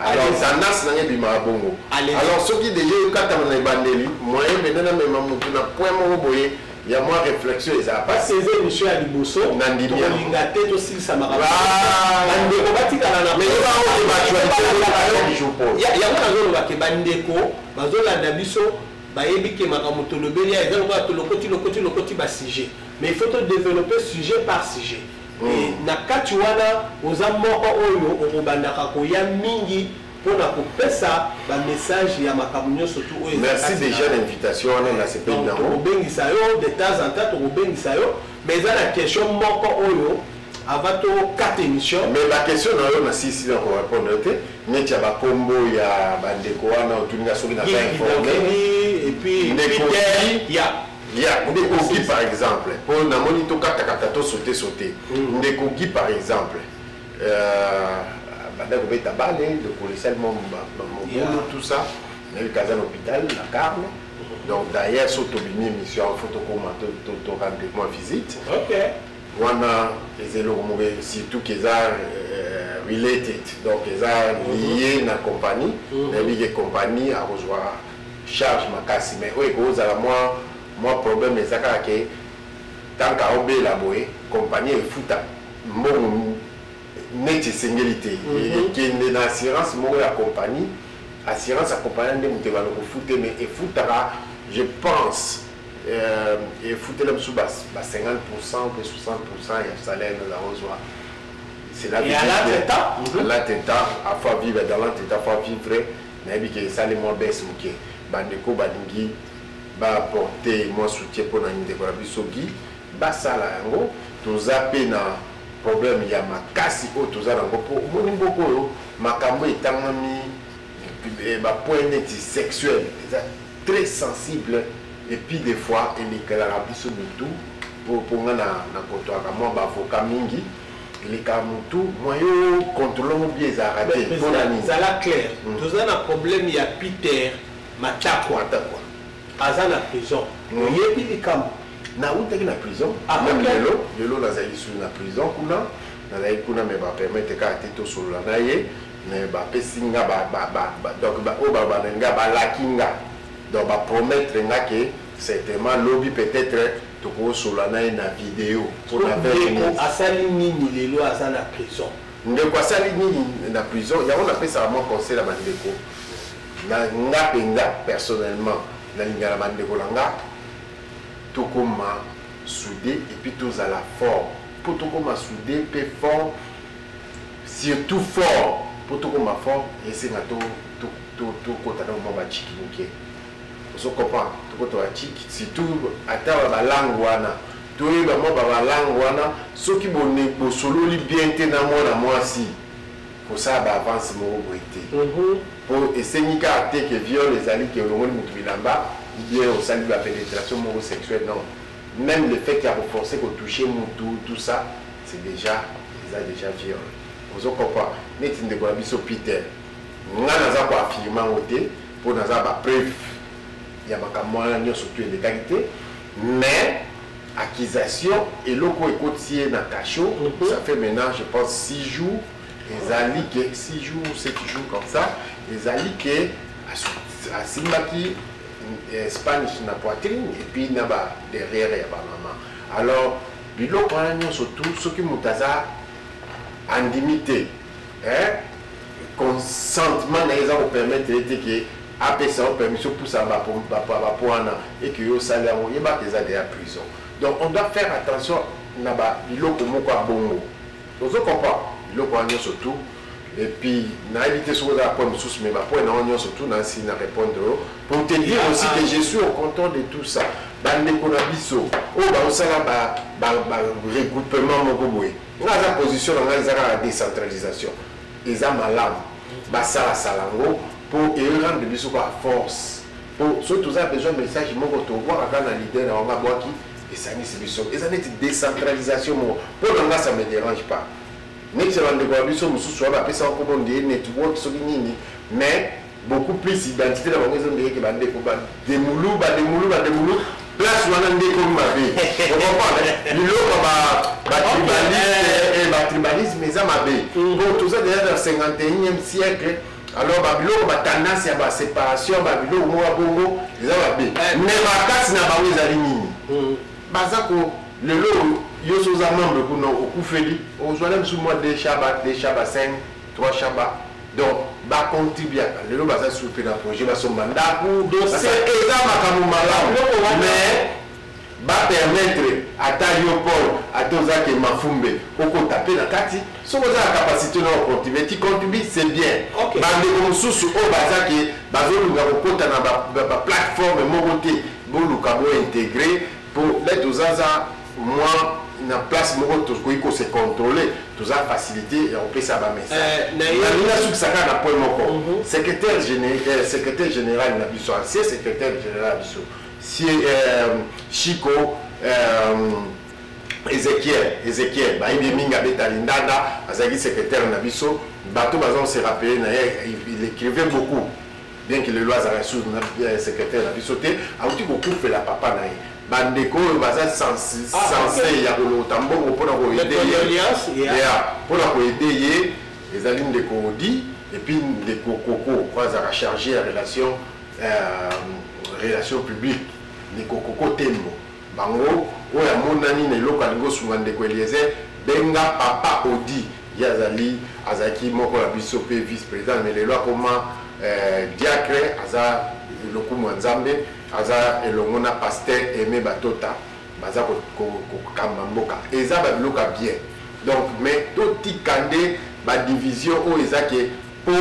alors tendance na ngai ebimaka bongo alors soki deja ekatama na ebandeli moyen mende namema motu na point moko boye ya mwa réflexion eza pasi eza émission ya liboso nandimiolinga te tosilisa makamobandeko batikala nayango nazolobake bandeko bazolanda biso bayebi ke makambo tolobeli eza lokola tolokoti lokoti lokoti basujet mais il faut todeveloppe sujet par sujet Et na kati wana oza moko oyo okobandaka koya mingi pona kopesa ba message ya makambo nionso tout oyo eza kati na yango. Donc tokobengisa yo de temps en temps tokobengisa yo mais eza na question moko oyo avant to kata emission. Mais ba question na yo na sisi na ko repondre yo te neti ya ba kombo ya ba ndeko wana otuni nga soki naza informe. Ndeko Guy. Ya ndeko Guy par exemple po na moni to kata kata to sauter sauter mm. ndeko Guy par exemple euh, banda kobeta bale ndeko lisali mwa mobulu yeah. tout ça nayebi kaza na hôpital na carme donc d'ailleurs so tobimi émission fo tokoma to rendre mwa visite okay. wana eza eloko moko surtout keza euh, related donc eza mhm. lié na compagnie mhm. nayebi ke compagnie akozwa charge makasi mais oyo eko zala mwa mwa problème eza kaka ke tant que azo bela boye compagnie efuta mbongo neti esengeli te mhm. ekende na assurance moko ya compagnie assurance ya compagnie nde moto ebana kofute mais efutaka je pense euh, efutela biso ba 50 pourcent mpe 60 pourcent ya salaire na yango zwa c'est la vie à l'attentat à l'attentat à fois vivre dans l'attentat à fois vivre Nayebi ke esali mwa baisse muke. Bandeko balingi ba apporter mwa soutien mpo na ndeko na biso Guy, basala yango. Toza mpe na problème ya makasi oyo toza na yango mpo omoni mboka oyo makambo etangami ba points neti sexuel eza très sensible et puis des fois elekelaka biso mitu mpo nga na kotoaka mwa baavocat mingi elekaka mutu mwa yo controle yango bien ezalaka te Mais mpo na zala- nini zala clair Mm. toza na problème ya peter matakwa Matakwa. aza na prison Mm. oyebi likambo nautaki na prison Ah, meme ok. lelo lelo nazali lisusu na prison kuna nazali kuna me bapermete kaka te tosolola na ye me bapesi nga ba- ba- ba- ba- donc ba- oyo babanda nga balaki nga donc bapromettre nga ke certainement lobi peut-être tokosola na ye na video pona ndeko asali nini lelo aza na prison ndeko asali nini na prison yango napesaka mwa conseil na bandeko na nga mpenza personnellement nalinga na bandeko na nga tokoma soude epuis tozala fort mpo tokoma soude mpe fort surtout fort mpo tokoma fort esenga tokota na mwa baciki moke Ozo comprendre? Toko to ba chic surtout ata ba ba langue wana. Toyeba mwa ba ba langue wana soki bo ne bo sololi bien te na mwana mwasi kosala ba avance moko boye te. Po esengi kaka te ke viol ezali ke olongoli mutu bilamba ou bien osali ba penetration moko sexuel non. Meme le fait ya ko forcer ko toucher mutu tout ça c'est dejà eza dejà viol. Ozo comprendre? Neti ndeko na biso Peter nga naza ko affirmer yango te. po naza ba preuve ya makambo wana nyonso tu elekaki te mais accusation eloko ekoti ye na cachot mhm. ça fait maintenant je pense 6 jours ezali ke 6 jours 7 jours comme ça ezali ke asimbaki eh, spanish na poitrine et puis na ba derrière ya ba maman alors biloko wana nyonso tu soki moto aza andimi te eh consentement na eza ko permettre ete ke apesa yo permission pusa ba ba poana et que yo sali yango yeba que eza déjà prison donc on doit faire attention na ba biloko moko ya bongo ozo comprendre biloko wana nyonso tout et puis nayebi te soki ozala point mosusu mais bapoint na yango nyonso tout nasi na répondre yo pour te dire aussi que je suis au contrôle de tout ça bandeko na biso oyo baosala ba regroupement moko boye nga aza position na ngai eza kaka decentralisation eza malamu basalasala yango mpo erendre biso ba force mpo soki toza besoin message moko tobwaka kaka na lider na yango abwaki esangisi biso eza neti decentralisation moko mpo na nga ça me dérange pas neti ya bandeko ya biso mosusu wana bapesaka nkombo ndeye network soki nini mais beaucoup plus identité na bango ezonde yeke bandeko bademulu bademulu bademulu place wana nde ekomi mabe okomprendre biloko batribalisme batribalisme eza mabe po toza deja na 51e siècle alors babiloko batendance ya baséparation babiloko moko ya bongo eza mabe mais makasi na bango ezali nini baza ko lelo oyo yo soza membre kuna okufeli ozwa na bisu mwa deshaba deshaba 5 Trois shamba donc ba contribuaka lelo baza supe na projet basomba ndako eza makambo malamu mais ba permettre ata yo paul ata ozaki mafumbe okota mpe na kati soki oza na capacité na ocontribue ti contribue c'est bien bandeko mosusu oyo bazaki bazoluka kokota na baplateforme moko te boluka bointegre mpo nde tozaza Moi na place moko tokoki ko se contrôler toza facilité ya kopesa ba message nalingi nasukisa kaka na point moko secrétaire général secrétaire général na biso ancien secrétaire général na biso si chico ezekiel ezekiel bayebi mingi abeta lindanda azalaki secrétaire na biso bato baza kose rappele na ye il écrivait beaucoup bien que lelo azalaka sur euh, secrétaire na biso te auti kokufela papa na ye bandeko oyo baza sense ah, ya kolokota mbongo mpona koede ye mpona koede ye ezali ndeko odi epuis ndeko koko oyo azalaka charge ya relation euh, relation publique ndeko koko tembo bango oyo amonani na eloko alingi osunga ndeko eliezer benga papa odi Ye azali azalaki moko na biso pe vice president mais lelo akoma eh, diacre aza lokumu ya Nzambe aza elongo na pasteur Aime Batota baza kokamba mboka eza ba biloko ya bien donc mais totika nde ba division oyo eza ke po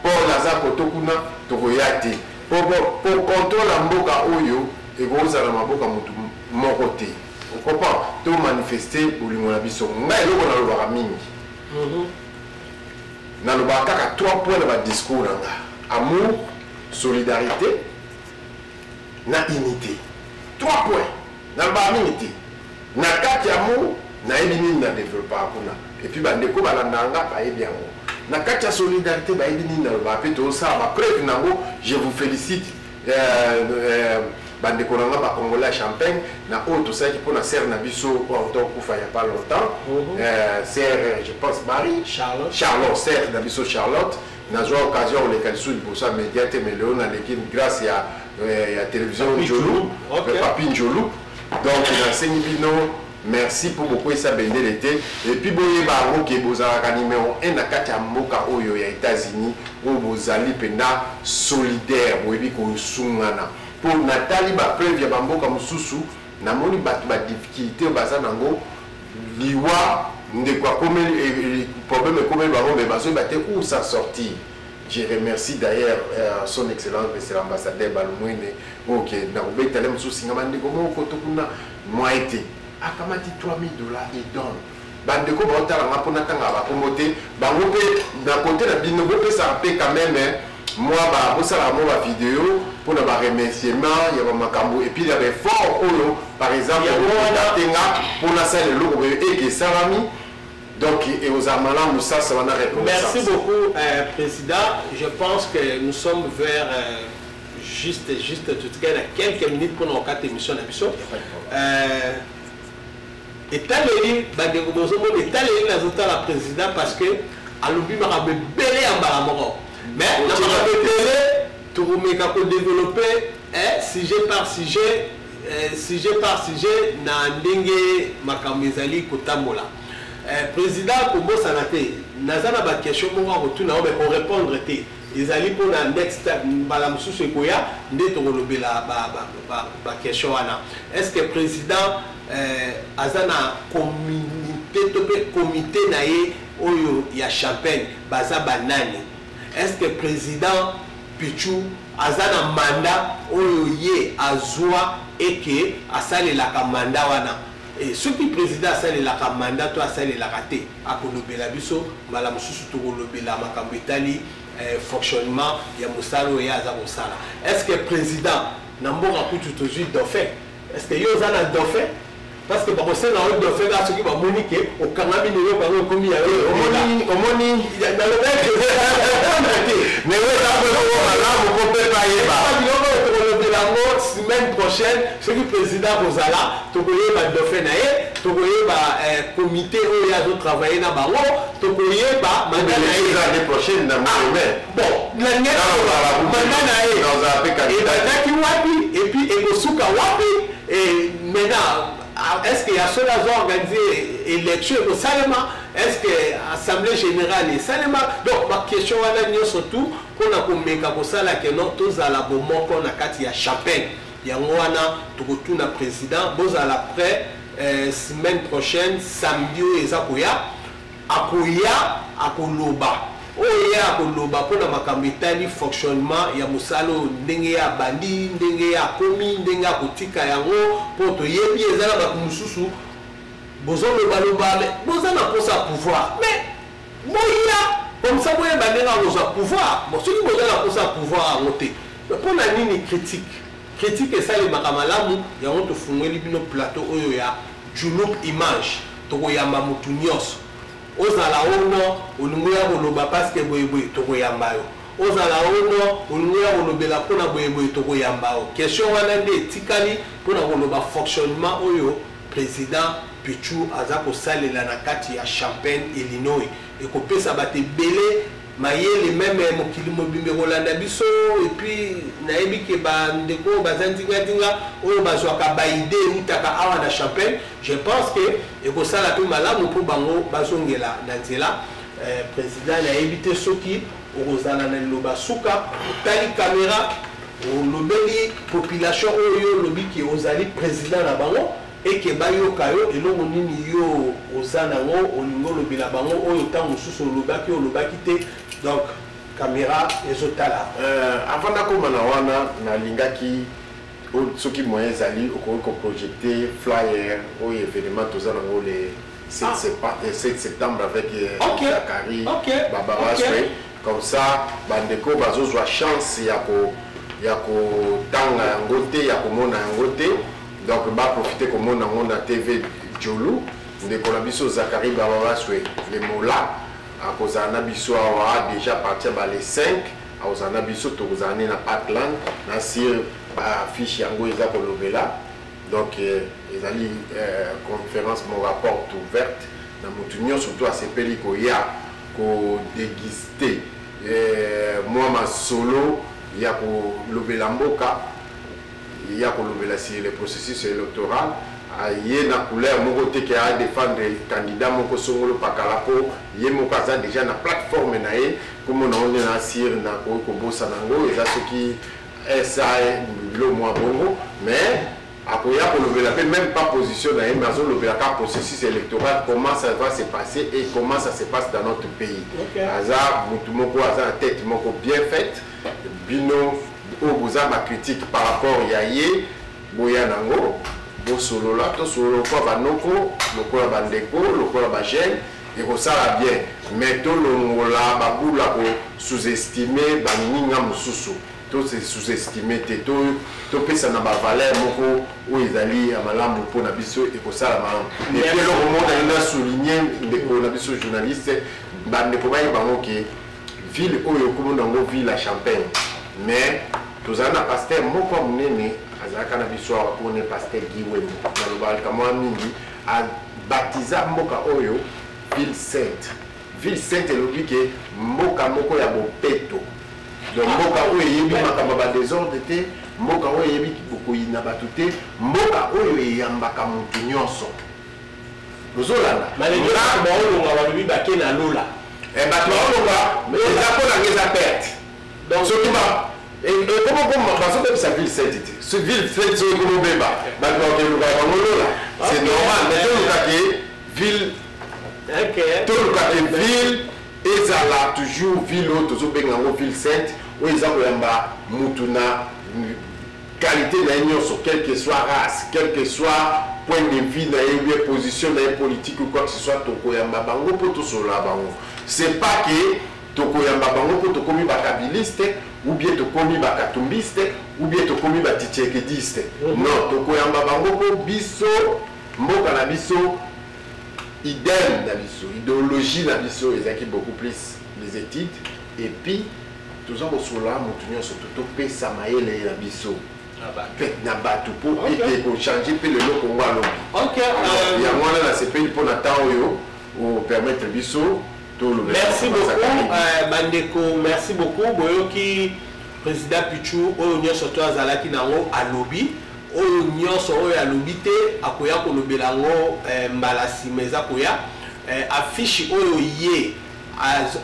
Paul aza koto kuna tokoya te po po contrôle ya mboka oyo ekozala na maboka motu moko te O comprend? To manifeste bolingo na biso. Nga eloko na lobaka mingi. Mhm. Na lobaka kaka trois points na ba discours na nga. Amour, solidarité, na unité. Trois points. Na lobaka mingi te. Na kati ya amour, na yebi nini na developpaka kuna. Et puis ba ndeko ba landa nga ba yebi yango. Na kati ya solidarité ba yebi nini na lobaka pe to sala ba preuve na ngo. Je vous félicite. bandeko na nga ba congolais ya champagne na oyo tosalaki mpo na sere na biso oyo auta okufa ya pas longtemps mhm. euh, sere je pense marie charlotte sere na biso charlotte nazwa occasion koleka lisusu liboso ya média te mais lelo naleki grâce ya, euh, ya télévision njolu papi njolu donc nasengi bino Merci po bokweyisa bendele te et puis boyeba yango ke bozalaka numero 1 na kati ya mboka oyo ya Etats-Unis oyo bozali mpenza solidaire, boyebi kosungana. Mpo natali bapreuve ya bamboka mosusu, namoni bato badifficulte oyo baza nango liwa ndeko akomeli eh, eh, problème ekomeli bango me bazoyeba te où s'en sortir je remercie d'ailleurs euh, son excellence monsieur l'ambassadeur balumwene oyo ke nakobetale mosusu singa bandeko moko to kuna Moyen te. Akamati 3000 dollars il donne. Ba ndeko bao tala nga po na tanga ba kombo te. Bango pe na cote na bino bo pesa pe quand même moi ba bo sala mo ba video po na ba remerciement ya ba makambo et puis ya ba effort oyo par exemple ya mwana tenga po na sala eloko boye et que salami donc et aux amala musasa wana reconnaissance. Merci beaucoup euh, président. Je pense que nous sommes vers euh, juste juste totikali na quelques minutes mpona kokata émission na biso euh, etaleli bandeko bozomona etaleli nazotala président parce que alobi makambo ebele ya mbala moko mais na makambo ebele tokomeka kodeveloppe eh, sujet par sujet eh, sujet par sujet na ndenge makambo ezali kotambola eh, président kobosana te naza na baquestion moko akotuna yo me korépondre te Ezali mpo na next time mbala mosusu ekoya nde tokolobela ba ba ba ba question wana. Est ce que president eh, aza na communauté to pe comité na ye oyo ya champagne baza ba nani? Est ce que president Pichu aza na mandat oyo ye azwa et que asalelaka mandat wana? Et soki president asalelaka mandat to asalelaka te akolobela biso mbala mosusu tokolobela makambo etali eh, fonctionnement ya mosala oyo ye aza kosala est ce que président na mboka kutu tozwi dauphin est ce que yo oza na dauphin parce que bakosenga yo dauphin kaka soki bamoni ke okangami na eloko yango ekomi ya yo omoni omoni malamu mpo mpe payeba biloko tokolobela yango semaine prochaine soki président kozala tokoyeba dauphin na ye tokoyeba eh, comité oyo azo travaille na bango tokoyeba manda na ye ah, manda na ye ebandaki wapi epuis ekosuka wapi maintenant ah, est ce que ya solo azo organise élection ekosalema est ce que assemblée générale esalema donc baquestion wana nyonso tout mpo na komeka kosala keno tozala bomoko na kati ya chapelle Yango wana tokotuna president bozala près eh, semaine prochaine samedi oyo eza koya akoya akoloba oyo ye akoloba mpo na makambo etali fonctionnement ya mosala oyo ndenge ye abandi ndenge ye akomi ndenge akotika yango mpo toyebi eza na bato mosusu bozolobaloba boza na mposa ya pouvoir mais Boya comme ça boyeba ndenge ya kozwa pouvoir. Bon soki boza na mposa ya pouvoir yango te, mpo na nini critique? Critique esalemaka malamu, yango tofungweli bino plateau oyo ya Djouloop Image. Tokoyamba motu nionso. Ozala o non olingi oya koloba parce que boye boye, tokoyamba yo. Ozala o non olingi oya kolobela mpo na boye boye, tokoyamba yo. Question wana nde etikali mpo na koloba fonctionnement oyo. President Pitshu aza kosalela na kati ya Champaign, Illinois, ekopesa bato ebele mayele meme mokili mobimba ekolanda biso et puis nayebi ke ba ndeko oyo baza ndinga ndinga oyo bazwaka ba idee eutaka awa na Champaign je pense que ekosala mpe malamu mpo bango bazongela na nzela eh, president nayebi te soki okozala na liloba suka otali kamera Olobeli population oyo yo olobi que ozali president na bango et que bayoka yo, eloko nini yo oza nango olingi olobela bango oyo tango mosusu olobaki olobaki te donc camera ezo tala. Euh, avant nakoma na wana nalingaki soki moyen ezali okoki koprojecte flyer oyo événement toza nango le 7 ah. septembre avec euh, okay. Zachary okay. Babaraswe okay. Comme ça ba ndeko bazo zwa chance ya ko ya ko tanga yango te ya komona yango te donc ba profiter komona yango na TV Jolu ndeko na biso Zachary Bababaswe le Mola akozala na biso awa déjà partir ba le 5 akozala na biso tokozala ne na Parkland na sur ba fiche yango eza kolobela donc ezali euh, conférence mon rapport ouverte Na moto nyonso to asepeli koya ko deguster eh, mwa masolo ya kolobela mboka ya kolobela si le processus electoral aye na couleur moko te ke a defendre candidat moko songolo pakala mpo ye moko aza deja na plateforme na ye nkombo na one na asire nakoki kobosana yango eza soki sa bilo mwa bongo mais Akoya kolobela mpe meme pas position na ye mais azolobela kaka processus electoral comment ça va se passer et comment ça se passe dans notre pays. Okay. Aza mutu moko aza na tête moko bien faite bino oyo boza ba critique par rapport ya ye boya nango bosolola tosolola lokola banoko lokola bandeko lokola bajeune ekosala bien mais tolongola babula ko sous-estime baninga mosusu To se sous estimer te to to pesa na ba valeur moko oyo ezali ya malamu mpo na biso ekosala malamu. Et puis eloko moko na na souligner ndeko na biso journaliste ba ndeko baye bango ke ville oyo kombo na yango ville ya champagne mais tozali na pasteur moko ya monene azalaka na biso awa mpo ne pasteur Guy Wembo nalobaka mwa mingi abatiza mboka oyo ville sainte Ville sainte elobi ke mboka moko ya bopeto donc mboka oyo eyebi makambo ya badesordre te mboka oyo eyebi bokoyina bato te mboka oyo eyambaka moto nyonso ozolanda baolonga balobi bake na lola eh, bato baolonga eza mpo nanga eza perte donc soki ekomokoma eh, eh, bazobebisa ville sete te so ville sete soki ekomobeba bato bakeluka bango lola c'est normal mais tolukaki ville okay. toluka ke ville ezala toujours ville oyo tozobenga yango ville sainte oyo eza koyamba mutu na qualité na ye nyonso quel que soit race quel que soit point de vue na ye bien position na ye politique ou quoi que ce soit tokoyamba bango mpo tosolola bango c'est pas que tokoyamba bango mpo tokomi bakabiliste ou bien tokomi bakatumbiste ou bien tokomi batitiekediste mhm. non tokoyamba bango mpo biso mboka na biso Idem na biso, ideologie na biso ezalaki beaucoup plus les études et puis toza kosolola motu nyonso to topesa mayele na biso na bato mpo ete kochange mpe lelo kongo alobi euh, yango wana nasepeli mpo na temps oyo opermettre biso merci beaucoup euh, bandeko merci beaucoup boyoki président pichu oyo nyonso to azalaki nango alobi Oyo nionso oyo alobi te akoya kolobela yango mbala sima eza koya. Affiche oyo ye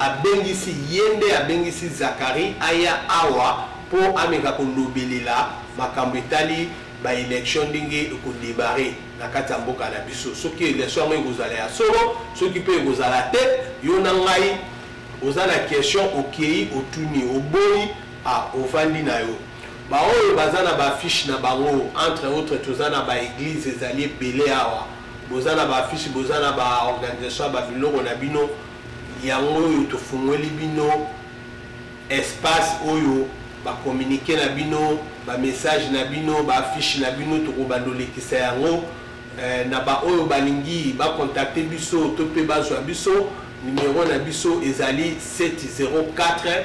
abengisi ye nde abengisi Zacharie aya awa po ameka kolobelela makambo etali ba elections ndenge eko debarrer na kati ya mboka na biso. Soki election yango ekozala ya solo soki pe ekozala te yo na ngai oza na question okeyi otuni oboyi ah ovandi na yo. Ba oyo baza na ba affiche na bango entre autres toza na ba eglise ezali ebele awa boza na ba affiche boza na ba organisation ya ba biloko na bino yango oyo tofungweli bino espace oyo ba communique na bino ba message na bino ba affiche na bino tokobanda olekisa yango eh, na ba oyo balingi bakontakte biso to mpe bazwa biso numero na biso ezali 704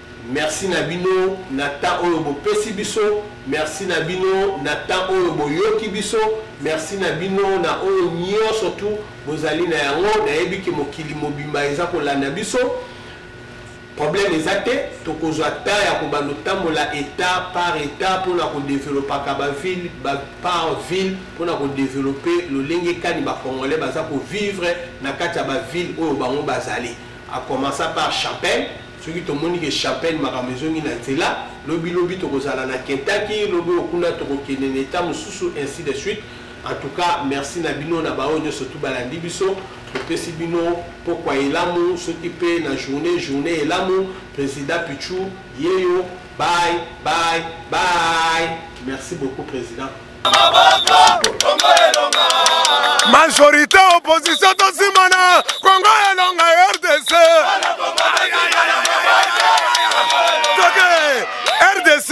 Merci na bino na temps oyo bo pesi biso, merci na bino na temps oyo bo yoki biso, merci na bino na oyo nionso tout bozali na yango. Nayebi ke mokili mobimba eza kolanda biso. Problème eza te, tokozwa temps ya kobanda kotambola etat par etat pona ko developaka ba ville ba par ville pona ko developer lolenge kani ba congolais baza ko vivre na kati ya ba ville oyo bango bazali. A commencer par Chapelle soki tomoni ke chapelle makambo ezongi na nzela lobi lobi tokozala na kentaki lobi oyo kuna tokokende na etat mosusu ainsi de suite en tout cas merci na bino na baoyo nyonso tu balandi biso topesi bino pokwa elamu soki mpe na journée journée elamu président pichu yeyo bye bye bye merci beaucoup président majorité opposition tosimana kongo elonga rdc toke rdc